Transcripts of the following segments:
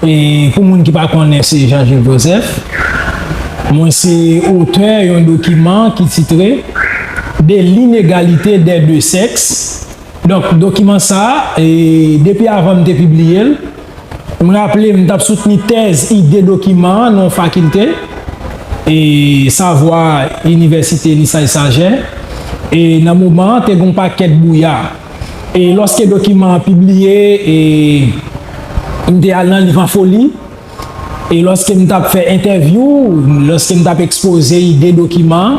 Pou moun ki pa konnen se Jean Jules Joseph. Mwen se otè yon dokiman ki titre De l'inégalité des deux sexes. Donk dokiman sa, depi avan m te pibliye l, m raple m t ap soutni tèz ide dokiman an nan yon fakilte, savwa, inivèsite Lesage-Saget, e nan moman an te gen yon pakèt bouya. E lòske dokiman an pibliye e m te al nan liv an foli e lòske m t ap fè entèvyou, lòske m t ap ekspoze ide dokiman an,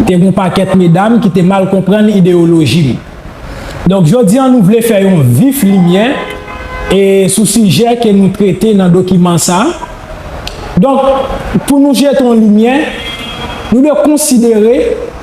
te gen yon pakèt medam ki te mal konprann ideyoloji m. Donk jodi an nou vle fè yon vif limyè e sou sijè ke nou trete nan dokiman sa a. Donk pou nou jete yon limyè, nou dwe konsidere.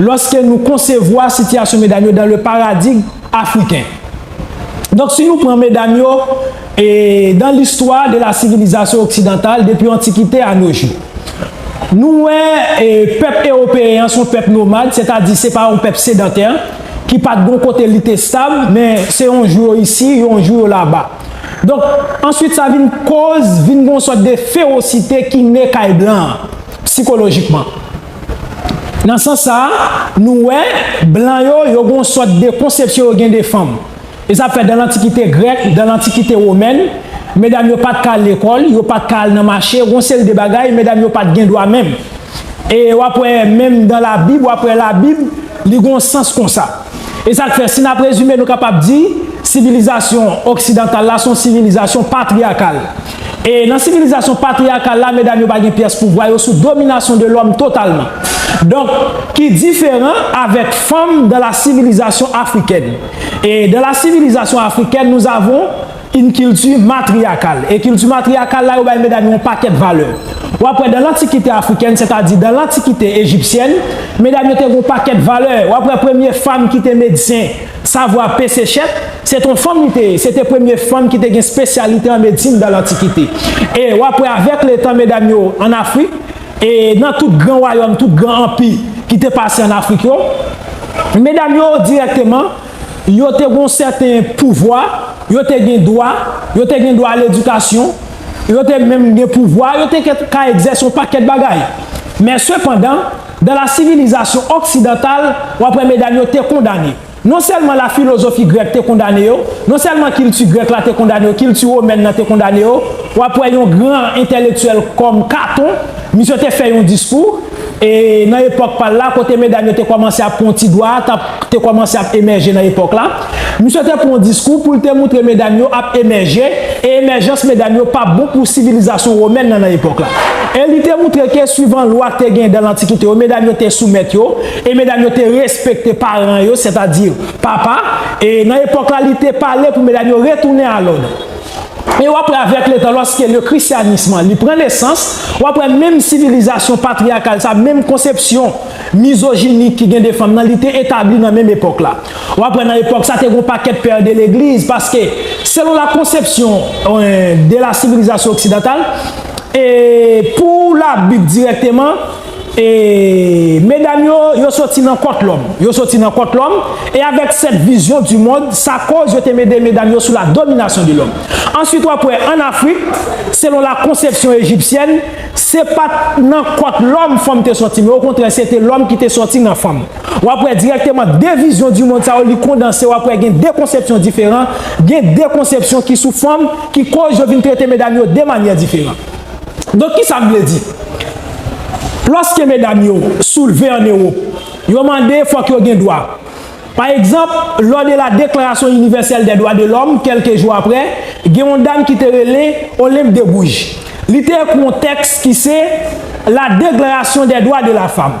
Lòske nou konsevwa sitiyasyon medam yo dan le paradig afriken. Donk si nou pran medam yo e dan listwa de la sivilizasyon oksidantal depi antikite a no jou. Nou wè e pèp ewopeyen an son pèp nomad setadi se pa yon pèp sedantè ki pat gon kote li te stab men se yon jou yo isi yon jou yo laba. Donk answit sa vin koz vin gon sòt de fewosite ki ne kay blan an sikolojikman. Nan sans sa a, nou wè, blan yo, yo gen yon sòt de konsepsyon yo gen de fanm. E sa fè dan lantikite grèk, dan lantikite womèn, medam yo pa t ka al lekòl, yo pa t ka al nan mache, gen yon seri de bagay, medam yo pa t gen dwa menm. E w ap wè menm dan Labib, w ap wè Labib, li gen yon sans kon sa. E sa k fè, si n ap rezime, nou kapab di, sivilizasyon oksidantal la se yon sivilizasyon patriyakal. E nan sivilizasyon patriyakal la, medam yo pa gen pyès pouvwa, yo sou dominasyon de lòm totalman. Donk, ki diferan avèk fanm dan la sivilizasyon afrikèn. E dan la sivilizasyon afrikèn, nous avons une culture matriarcale. E kilti matriyakal la, yo bay medam yo yon pakèt valè. W ap wè dan lantikite afrikèn, sètadi dan lantikite ejipsyèn, medam yo te gen yon pakèt valè. W ap wè premye fanm ki te medsen. Savwa Pesechet, se t on fanm li te ye, se te premye fanm ki te gen spesyalite an medsin dan lantikite. E w ap wè avèk le tan medam yo an Afrik, e nan tout gran wayòm, tout gran anpi ki te pase an Afrik yo, medam yo dirèkteman, yo te gen on sèten pouvwa, yo te gen dwa, yo te gen dwa a ledikasyon, yo te menm gen pouvwa, yo te ka egzèse on pakèt bagay. Men sepandan. Dan la sivilizasyon oksidantal, w ap wè medam yo te kondane. Non sèlman la filozofi grèk te kondane yo, non sèlman kilti grèk la te kondane yo, kilti womèn nan te kondane yo. W ap wè yon gran entèlektyèl kòm Katon, misye te fè yon diskou, e nan epòk pa l la, kote medam yo te kòmanse ap pran yon ti dwa a, t ap, te kòmanse ap emèje nan epòk la. Misye te pran yon diskou pou l te moutre medam yo ap emèje e emèjans medam yo pa bon pou sivilizasyon womèn nan nan epòk la. E li te moutre ke suivan lwa k te gen dan lantikite yo medam yo te soumèt yo e medam yo te respekte paran yo, sètadi papa, e nan epòk la li te pale pou medam yo retounen a lòd. E w ap wè avèk letan lòske le christianisme an li pran nesans, w ap wè menm sivilizasyon patriyakal sa, menm konsepsyon mizojinik ki gen de fanm nan li te etabli nan menm epòk la. W ap wè nan epòk sa te gen yon pakèt père de l'église paske selon la konsepsyon de la sivilizasyon oksidantal e pou la bib dirèkteman e medam yo yo soti nan kòt lòm yo soti nan kòt lòm e avèk sèt vizyon di mond sa kòz yo te mede medam yo sou la dominasyon de lòm answit w ap wè an afrik selon la konsepsyon ejipsyèn se pa t nan kòt lòm fanm te soti men okontrè se te lòm ki te soti nan fanm. W ap wè dirèkteman 2 vizyon di mond sa yo li kondanse w ap wè gen 2 konsepsyon diferan, gen 2 konsepsyon ki sou fòm ki koz yo vin trete medam yo 2 manyè diferan. Donk kisa m vle di? Lòske medam yo soulve an Ewop, yo mande fòk yo gen dwa. Pa egzanp, lò de la Deklarasyon Inivèsèl dè Dwa de Lòm kèlke jou aprè, gen yon dam ki te rele Olympe de Gouges. Li te ekri yon tèks ki se La Deklarasyon dè Dwa de la Fam.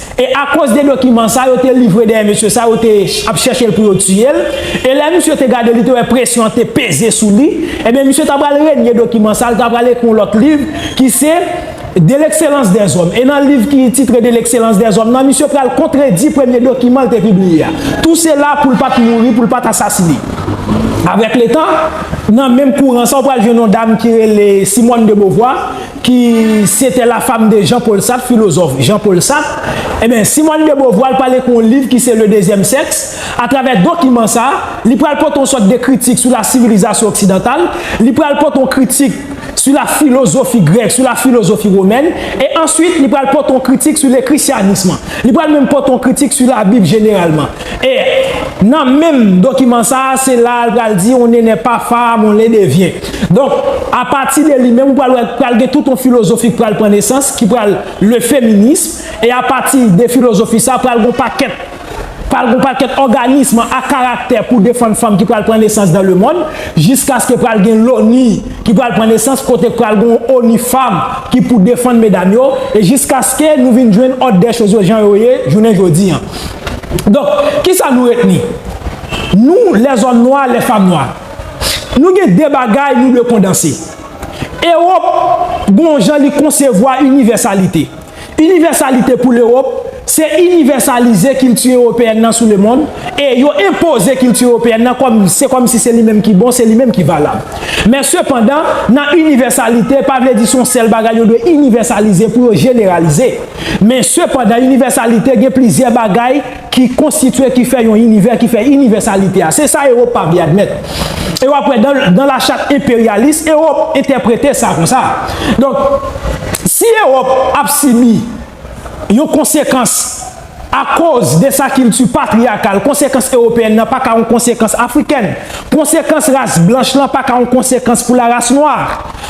E akoz de dokiman sa yo te livre dèyè mesye sa yo te ap chèche l pou yo tiye l, e lè misye te gade li te wè presyon an te peze sou li, ebyen misye ta pral renye dokiman sa, li ta pral ekri yon lòt liv ki se De l'excellence des hommes. E nan liv ki titre De l'excellence des hommes nan misye pral kontredi premye dokiman l te pibliye a. Tou sela pou l pa t mouri, pou l pa t asasine. Avèk letan, nan menm kouran sa ou pral jwenn yon dam ki rele Simone de Beauvoir, ki C'etait la femme de Jean Paul Sartre, filozòf Jean Paul Sartre, enben Simone de Beauvoir pral ekri yon liv ki se Le deuxième sexe, atravè dokiman sa, li pral pote yon sòt de kritik sou la sivilizasyon oksidantal, li pral pote yon kritik sou la filozofi grèk, sou la filozofi womèn, e answit li pral pote yon kritik sou le krisyanism, li pral menm pote yon kritik sou la bib jeneralman. E, nan menm dokiman sa a, se la a l pral di, on ne nè pa fam, on le devyen. Donk, apati de li menm, ou pral wè, pral gen tout on filozofi k pral pran nesans, ki pral le feminism, e apati de filozofi sa a, pral gen on pakèt, pral gen on pakèt òganism a karaktè pou defann fanm ki pral pran nesans dan lemonn, jiskaske pral gen loni ki pral pran nesans, kote pral gen on oni fam ki pou defann medam yo, e jiskaske nou vin jwenn òd dè choz yo jan yo ye jounen jodi an. Donk, ki sa nou retni? Nou, lèzòm nwa, lèfam nwa, nou gen de bagay nou dwe kondanse. Ewòp gen yon jan li konsevwa inivèsalite. Inivèsalite pou Lewòp, se inivèsalize kilti ewopeyèn nan sou lemonn e yo enpoze kilti ewopeyèn nan kòm se kòm si se li menm ki bon, se li menm ki valab. Men sepandan, nan inivèsalite pa vle di se yon sèl bagay yo dwe inivèsalize pou yo jeneralize. Men, sepandan, inivèsalite gen plizyè bagay ki konstitye ki fè yon inivè ki fè inivèsalite a. Se sa Ewopab y admèt. E w ap wè, dans la charte impérialiste, Ewòp entèprete sa konsa. Donk, si Ewòp ap sibi yon konsekans akoz de sa kilti patriyakal, konsekans ewopeyèn nan pa ka yon konsekans afrikèn. Konsekans ras blanch lan pa ka yon konsekans pou laras nwa.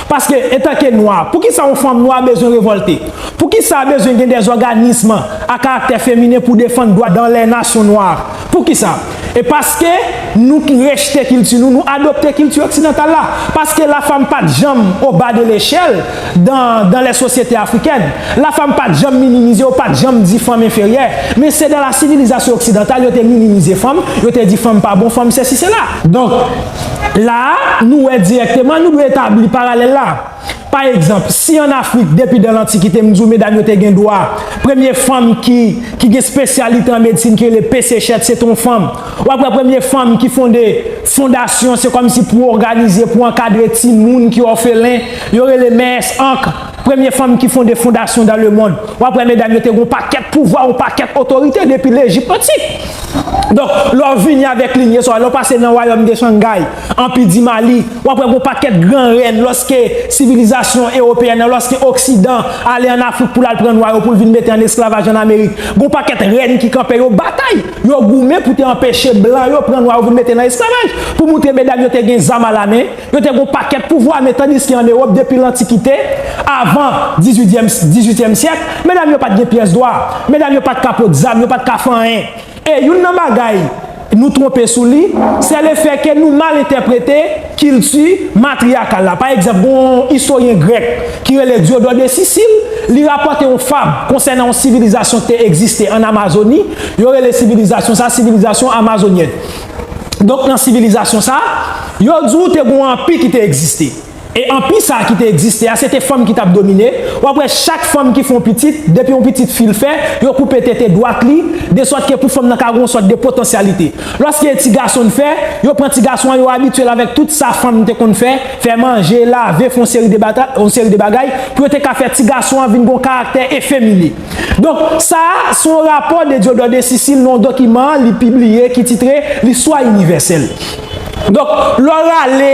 Paske, antanke nwa, poukisa yon fanm nwa bezwen revòlte? Poukisa bezwen gen dè òganism a karaktè feminen pou defann dwa dan lè nasyon nwa? Poukisa? E paske nou rejte kilti nou, nou adopte kilti oksidantal la. Paske lafam pa t janm o ba de lechèl dan dan lè sosyete afrikèn. Lafam pa t janm minimize, yo pa t janm di fanm enferyè. Men se dan la sivilizasyon oksidantal yo te minimize fanm, yo te di fanm pa bon, fanm sesi sela. Donk, La a, nou wè dirèkteman, nou dwe etabli paralèl la. Pa egzanp, si ann Afrik, depi dan lantikite, m di w medam yo te gen dwa, premye fanm ki, ki gen spesyalite an medsin ki rele Pesechèt, se te yon fanm. W ap wè premye fanm ki fonde fondasyon, se kòmsi pou òganize, pou ankadre timoun ki òfelen, yo rele Mèès Ankr. Premye fanm ki fonde fondasyon dan le mond. W ap wè medam yo te gen yon pakèt pouvwa, yon pakèt otorite depi Lejip antik. Donk, lè w vini avèk linye sa w, lè w pase nan wayòm de Shangai, Anpi di Mali, w ap wè gen yon pakèt gran rèn lòske sivilizasyon ewopeyèn nan, lòske oksidan ale ann Afrik pou l al pran nwa yo pou l vin mete ann esklavaj ann Amerik, gen yon pakèt rèn ki kanpe, yo batay, yo goumen pou te anpeche blan yo pran nwa yo vin mete nan esklavaj, pou moutre medam yo te gen zam alamen. Yo te gen yon pakèt pouvwa, men tandiske an Ewòp depi lantikite, avan dizuityèm syèk, medam yo pa t gen pyès dwa, medam yo pa t ka pot zam, yo pa t ka fè anyen. E youn nan bagay nou twonpe sou li, sè lefè ke nou mal entèprete kilti matriyakal la. Pa egzanp, gen yon istoryen grèk ki rele Diodò de Sisil, li rapòte yon fab konsènan yon sivilizasyon ki te egziste ann Amazoni, yo rele sivilizasyon sa a sivilizasyon amazonyèn. Donk nan sivilizasyon sa, yo di w te gen yon anpi ki te egziste. E anpi sa ki te egziste a, se te fanm ki t ap domine. W ap wè chak fanm ki fè yon pitit, depi yon pitit fi l fè, yo koupe tete dwat li, desòt ke pou fanm nan ka gen yon sòt de potansyalite. Lòske e ti gason l fè, yo pran ti gason an, yo abitye l avèk tout sa fanm te konn fè, fè manje, lave, fè yon seri de bagay, pou yo te ka fè ti gason an vin gen yon karaktè efemine. Donk, sa a, se yon rapò de Diodore de Sicile nan yon dokiman li pibliye ki titre L'Histoire universelle. Donk, lè w rale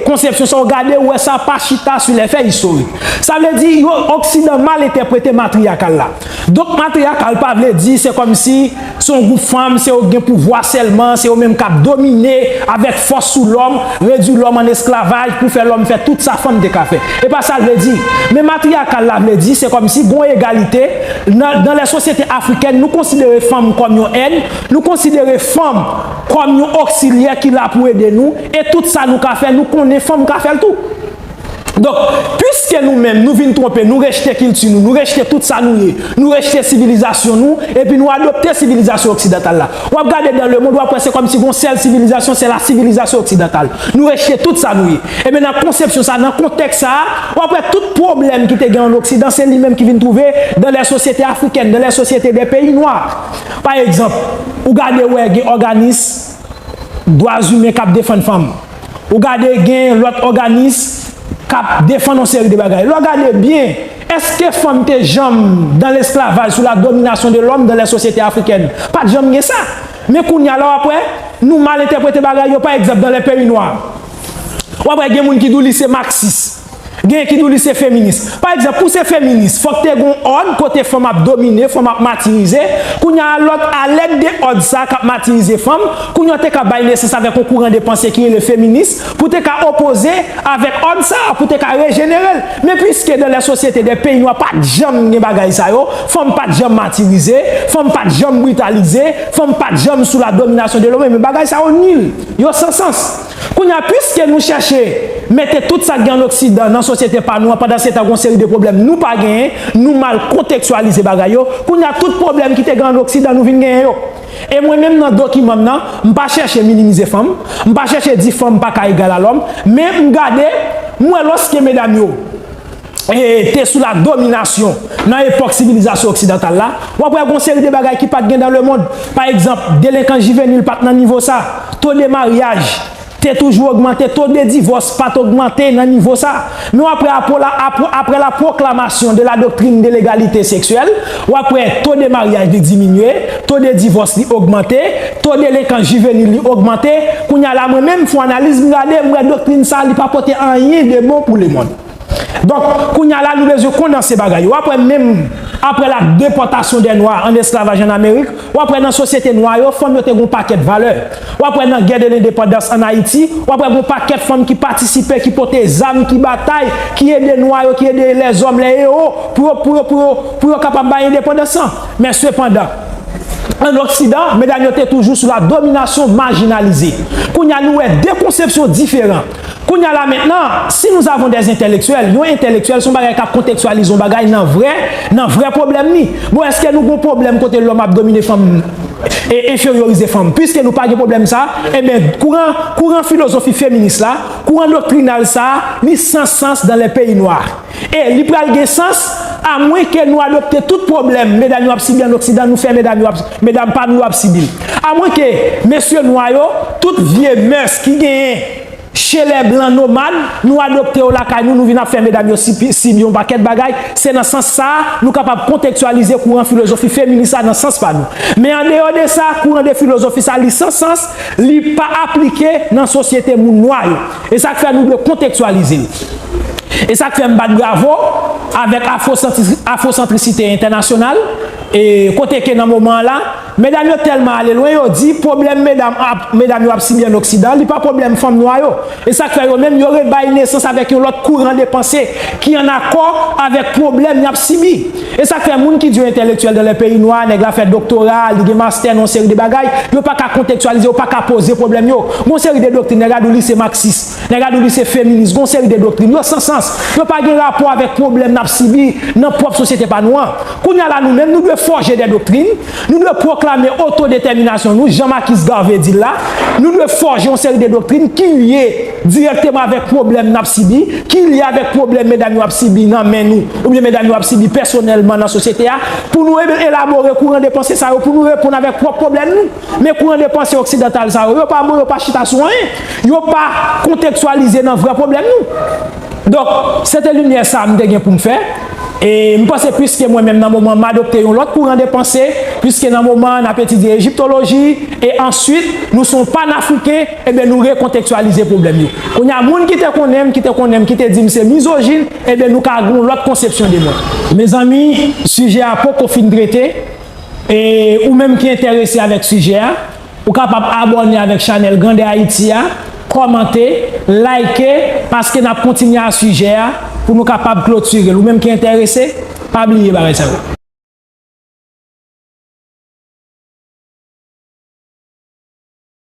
konsepsyon sa a, w gade, w wè sa pa chita sou lè fè istorik. Sa vle di, yo, oksidan mal entèprete matriyakal la. Donk, matriyakal pa vle di se kòmsi Se yon gwoup fanm, se yo ki gen pouvwa sèlman, se yo menm k ap domine avèk fòs sou lòm, redui lòm an esklavaj pou fè lòm fè tout sa fanm te ka fè. E pa sa l vle di. Men matriyakal la vle di, se kòmsi gon egalite, nan nan lè sosyete afrikèn nou konsidere fanm kòm yon èd, nou konsidere fanm kòm yon oksilyè ki la pou ede nou, e tout sa nou ka fè, nou konnen fanm ka fè l tou. Donk, piske nou menm nou vin twonpe, nou rejte kilti nou, nou rejte tout sa nou ye, nou rejte sivilizasyon nou, epi nou adopte sivilizasyon oksidantal la. W ap gade dan lemond, w ap wè se kòm si gon sèl sivilizasyon, se lasivilizasyon oksidantal. Nou rejte tout sa nou ye. Ebyen nan konsepsyon sa a, nan kontèks sa a, w ap wè tout pwoblèm ki te gen ann oksidan, se li menm ki vin twouve dan lè sosyete afrikèn, dan lè sosyete dè peyi nwa. Pa egzanp, ou gade wè gen òganis dwazimen k ap defann fanm. Ou gade gen lòt òganis k ap defann yon seri de bagay. Lè w gade byen, èske fanm te janm dan lesklavaj sou la dominasyon de lòm dan lè sosyete afrikèn? Pa t janm gen sa. Men kounye a la w ap wè, nou mal entèprete bagay yo pa egzanp dan lè peyi nwa. W ap wè gen moun ki di w li se maksis. Genyen ki di w li se feminis. Pa egzanp, pou w se feminis, fòk te gen yon òd kote fanm ap domine, fanm ap matirize. Kounye a, lòt alèd de òd sa a k ap matirize fanm, kounye a w te ka bay nesans avèk yon kouran de panse ki rele feminis, pou w te ka opoze avèk òd sa a, pou w te ka rejenere l. Men piske dan lè sosyete dè peyi nwa pa t janm gen bagay sa yo, fanm pa t janm matirize, fanm pa t janm britalize, fanm pa t janm sou la dominasyon de lòm, enben bagay sa yo nil, yo san sans. Kounye a, piske nou chèche mete tout sa k gen ann Oksidan nan sosyete pa nou an, pandansetan gen yon seri de pwoblèm nou pa genyen, nou mal kontekstyalize bagay yo, kounye a tout pwoblèm ki te gen ann Oksidan nou vin genyen yo. E mwen menm nan dokiman m nan, m pa chèche minimize fanm, m pa chèche di fanm pa ka egal a lòm, men m gade, m wè lòske medam yo. te sou la dominasyon nan epòk sivilizasyon oksidantal la, w ap wè gen yon seri de bagay ki pa t gen dan lemond. Pa egzanp, delenkans jivenil pa t nan nivo sa, to de maryaj te toujou ogmante, to de divòs pa t ogmante nan nivo sa. Men w ap wè apre la pwoklamasyon de la doktrin de legalite seksyèl, w ap wè to de maryaj li diminye, to de divòs li ogmante, to delenkans jivenil li ogmante. Kounye a la mwen menm m fon analiz m gade m wè doktrin sa li pa pote anyen de bon pou lemond. Donk, kounye a la nou bezwen kondanse bagay yo. W ap wè menm apre la depòtasyon dè nwa an esklavaj an Amerik, w ap wè nan sosyete nwa yo, fanm yo te gen yon pakèt valè. W ap wè nan gè de lendepandans an Ayiti, w ap wè gen yon pakèt fanm ki patisipe, ki pote zam, ki batay, ki ede nwa yo, ki ede lèzòm, lè ewo, pou yo, pou yo, pou yo, pou yo kapab bay endepandans lan. Men sepandan, an Oksidan, medam yo te toujou sou la dominasyon, majinalize. Kounye a nou wè de konsepsyon diferan. Kounya la mentnan, si nous avons des intellectuels, yon entelektyèl son bagay kap kontektyalize yon bagay nan vrè, nan vrè pwoblèm li. Bon eske nou gon pwoblèm kote lòm ap domine fanm e enferyorize fanm? Puiske nou pa gen pwoblèm sa, enben kouran, kouran filozofi feminis la, kouran doktrinal sa, li san sans dans les pays noirs. E li pral gen sans, a mwen ke nou adopte tout pwoblèm medam yo ap sibi an oksidan nou fè medam yo ap, medam pa nou yo ap sibi l. A mwen ke mesye nwa yo, tout vye mœurs ki genyen che lè blan nomad, nou adopte yo lakay nou, nou vin ap fè medam yo sibi yon pakèt bagay, se nan sans sa a, nou kapab kontektyalize kouran filozofi feminis la nan sans pa nou. Men an deyò de sa, kouran de filozofi sa li san sans, li pa aplike nan sosyete moun nwa yo. E sa k fè nou dwe kontekstyalize l. E sa k fè m bat bravo avèk afwosantrisite entènasyonal, e kote ke nan moman an la, medam yo tèlman ale lwen, yo di pwoblèm medam yo ap sibi an oksidan, li pa pwoblèm fanm nwa yo. E sa k fè yo menm, yo rebay nesans avèk yon lòt kouran de panse ki an akò avèk pwoblèm y ap sibi. E sak fè moun ki di yo entèlektyèl dan lè peyi nwa, nèg la fè doktora, li gen mastè nan yon seri de bagay, yo pa ka kontektyalize, yo pa ka poze pwoblèm yo. Gen yon seri de doktrin, nèg la di w li se maksis, nèg la di w li se feminis, gen yon seri de doktrin, yo san sans, yo pa gen rapò avèk pwoblèm n ap sibi nan pwòp sosyete pa nou an. Kounye a la nou menm, nou dwe fòje de doktrin, nou dwe pwoklame otodetèminasyon nou, jan Makis Garvey di l la, nou dwe fòje yon seri de doktrin ki lye, dirèkteman avèk pwoblèm n ap sibi, ki lye avèk pwoblèm medam yo ap sibi nan men nou oubyen medam yo ap sibi pèsonèlman nan sosyete a, pou nou elabore kouran de panse sa yo, pou nou reponn avèk pwòp pwoblèm nou. Men kouran de panse oksidantal sa yo, yo pa bon, yo pa chita sou anyen, yo pa kontektyalize nan vrè pwoblèm nou. Donk, se te limyè sa a m te gen pou m fè. E, m panse piske mwen menm nan moman an m adopte yon lòt kouran de panse, piske nan moman an n ap etidye ejiptoloji, e answit, nou se yon panafriken, Ebyen nou rekontektyalize pwoblèm yo. Kounye a moun ki te konnen m, ki te konnen m, ki te di m se mizojin, ebyen nou ka gen yon lòt konsepsyon de mwen. Mezanmi, sijè a poko fin trete, e ou menm ki enterese avèk sijè a, ou kapab abòne avèk chanèl Grandè Ayiti a, kòmante, like, paske n ap kontinye a sijè a pou nou kapab klotire l. Ou menm ki enterese, pa bliye bagay sa yo.